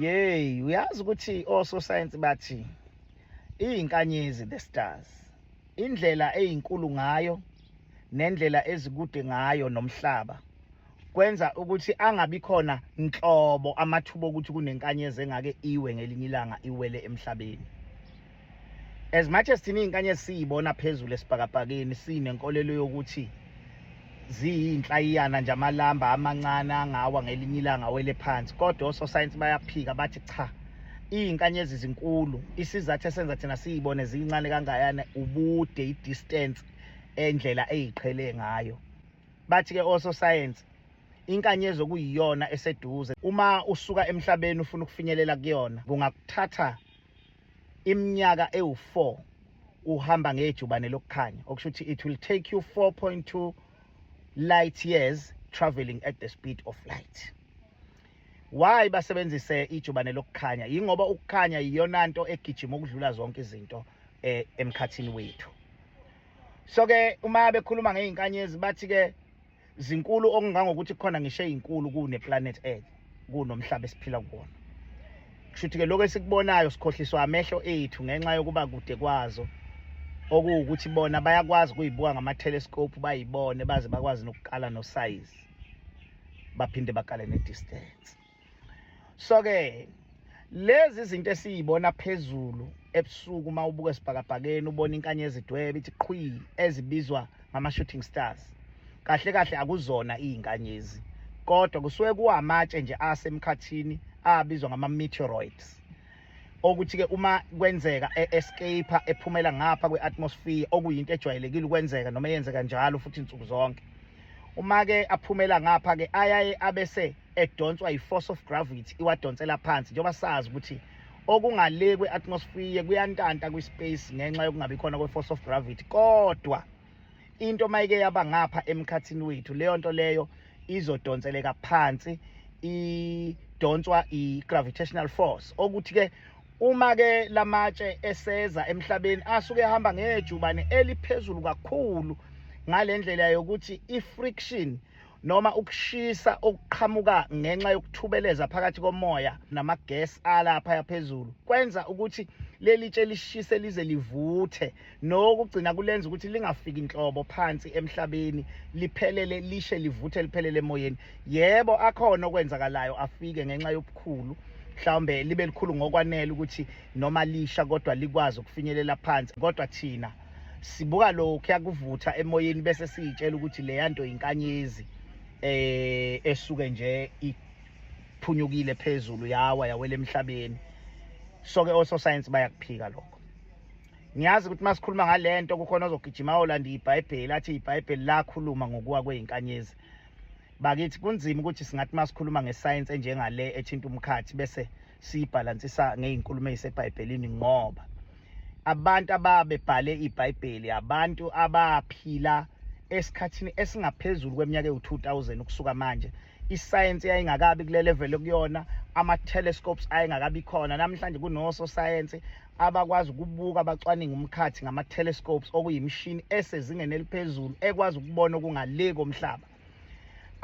Yey, uyazi ukuthi ososayensi bathi iyinkanyezi the stars. Indlela eyinkulu ngayo nendlela ezikude ngayo nomhlaba kwenza ukuthi angabi khona nhlobo amathuba okuthi kunenkanyezi engake iwe ngelinye ilanga iwele emhlabeni. as much as thina izinkanyezi siyibona phezulu esibhakabhakeni sinenkolelo yokuthi ziyinhlayiyana nje amalamba amancane angawa ngelinye ilanga wele phansi kodwa ososayensi bayaphika bathi cha izinkanyezi zinkulu isizathu esenza thina siyibone ziyincane kangayana ubude i-distance endlela eyiqhele ngayo bathi-ke ososayensi inkanyezi okuyiyona eseduze uma usuka emhlabeni ufuna ukufinyelela kuyona kungakuthatha iminyaka ewu-4 uhamba ngejubane lokukhanya okusho ukuthi it will take you 4.2 light years traveling at the speed of light why basebenzise ijubane lokukhanya yingoba ukukhanya iyona nto egijima ukudlula zonke izinto eh, emkhathini wethu so ke uma bekhuluma ngey'nkanyezi bathi ke zinkulu okungangokuthi khona ngisho ezinkulu kune planet Earth kunomhlaba esiphila kuwona kushuthi ke lokho esikubonayo sikhohliswa amehlo ethu ngenxa yokuba kude kwazo okuwukuthi bona bayakwazi kuyibuka ngama telescope bayibone baze bakwazi nokuqala no size baphinde bakale ne distance so ke lezi izinto esiyibona phezulu ebusuku uma ubuka esibhakabhakeni ubona inkanyezi idwebe ithi qhwi ezibizwa ngama-shooting stars kahle kahle akuzona iy'nkanyezi kodwa kusuke kuwamatshe nje asemkhathini abizwa ngama-meteoroids okuthi-ke uma kwenzeka e-escape ephumela ngapha kwe-atmosphere okuyinto ejwayelekile ukwenzeka noma eyenzeka njalo futhi nsuku zonke uma-ke aphumela ngapha-ke ayaye abese edonswa yi-force of gravity iwadonsela phansi njengoba sazi ukuthi okungale kwe-atmosphere kuyantanta kwi-space ngenxa yokungabi khona kwe-force of gravity kodwa into mayike yaba ngapha emkhathini wethu leyo nto leyo izodonseleka phansi idonswa i-gravitational force okuthi-ke uma-ke la matshe eseza emhlabeni asuke ehamba ngejubane eliphezulu kakhulu ngale ndlela yokuthi i-friction noma ukushisa okuqhamuka ngenxa yokuthubeleza phakathi komoya namagesi alapha yaphezulu kwenza ukuthi leli tshe lishise lize livuthe nokugcina kulenza ukuthi lingafiki inhlobo phansi emhlabeni liphelele lishe livuthe liphelele emoyeni yebo akhona okwenzakalayo afike ngenxa yobukhulu mhlawumbe libe likhulu ngokwanele ukuthi noma lisha kodwa likwazi ukufinyelela phansi kodwa thina sibuka lokhu yakuvutha emoyeni bese siyitshela ukuthi le yanto inkanyezi eh esuke nje iphunyukile phezulu yawa yawela emhlabeni so ke also science bayakuphika lokho ngiyazi ukuthi masikhuluma ngalento kukhona ozogijima olanda iBhayibheli athi iBhayibheli lakhuluma ngokuwa kweinkanyezi bakithi kunzima ukuthi singathi masikhuluma ngescience enjengale ethinta umkhathi bese siyibhalansisa ngey'nkulumo ey'sebhayibhelini ngoba abantu ababebhale ibhayibheli abantu abaphila esikhathini esingaphezulu kweminyaka ewu-2000 ukusuka manje isayensi yayingakabi kule level okuyona ama-telescopes ayengakabi khona namhlanje kunososayensi abakwazi ukubuka abacwaninga umkhathi ngama-telescopes okuyimishini esezingeni eliphezulu ekwazi ukubona okungale komhlaba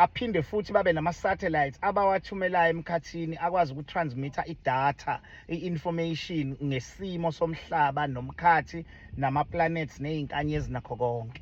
aphinde futhi babe nama-satellites abawathumelayo emkhathini akwazi ukutransmitha idatha i-information ngesimo somhlaba nomkhathi nama-planets ney'nkanyezi nakho konke